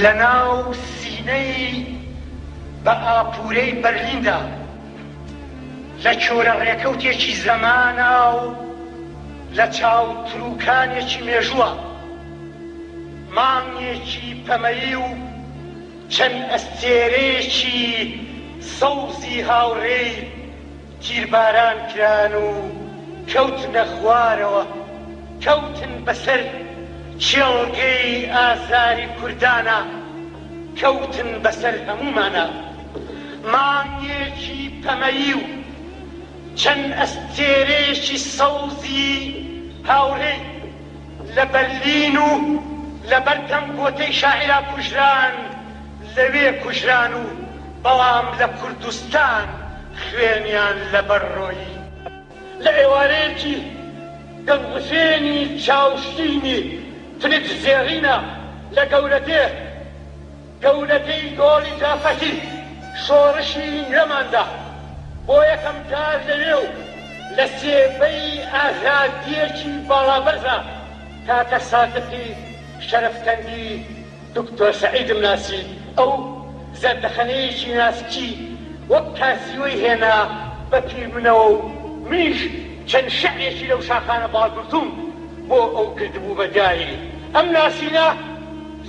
لەناو سینەی بە ئاپوورەی بەرلیندا، لە چۆرە ڕێکەوتێکی زەمانە و لە چاو ترووکانێکی مێژووە. مانگێکی پەمەیی و چەند ئەستێرەیەکی سەوزی هاوڕێی، تیرباران کران و کەوتنە خوارەوە، کەوتن بەسەر کێڵگەی ئازاری کوردانا، کەوتن بەسەر هەموومانا. مانگێکی پەمەیی و چەند ئەستێرەیەکی سەوزی هاوڕێی لە بەرلین و لەبەردەم گۆتەی شاعیرا کوژران، لەوێ کوژران و بەڵام لە کوردستان خوێنیان لەبەر ڕۆیی. لە ئێوارەیەکی دەنگوزێنی چاوشینی ترکز زێڕینە لە گەورەدێ، گەورەدێی دۆڵی جافەکی، شۆڕشی نەماندا. بۆ یەکەم جار لەوێ و لە سێبەی ئازادییەکی باڵابەرزە، کاکە سادقی شەرەفکەندی، دکتۆر سەعیدم ناسی ئەو زەردەخەنەیەکی ناسکی وەک کاسیوەی هێنا بە پیر منەوە و منیش چەند شعرێکی لەو شاخانە باڵگرتووم بۆ ئەو کردبوو بە دیاری ئەم ناسینە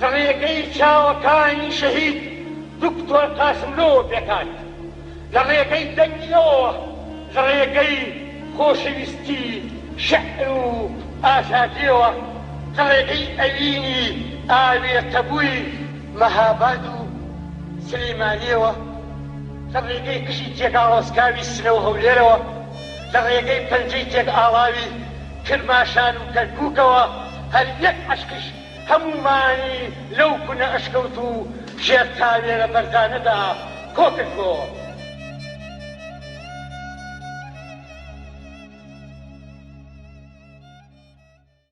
زڕیەکەی چاوەکانی شەهید دکتۆر قاسملۆوە پێکهات. لە ڕێگەی دەنگی ئەوەوە، لە ڕێگەی خۆشەویستی شیعر و ئازادییەوە، لە ڕێگەی ئەوینی ئاوێتەبووی مەهاباد و سلیمانییەوە، لە ڕێگەی قژی تێکئاڵۆزکاوی سنە و هەولێرەوە، لە ڕێگەی پەنجەی تێکئاڵاوی کرماشان و کەرکووکەوە، هەر یەک عەشقیش. هەموومانی لەو کونە ئەشکەوت و ژێر تاوێرە بەرزانەدا کۆکردبۆوە.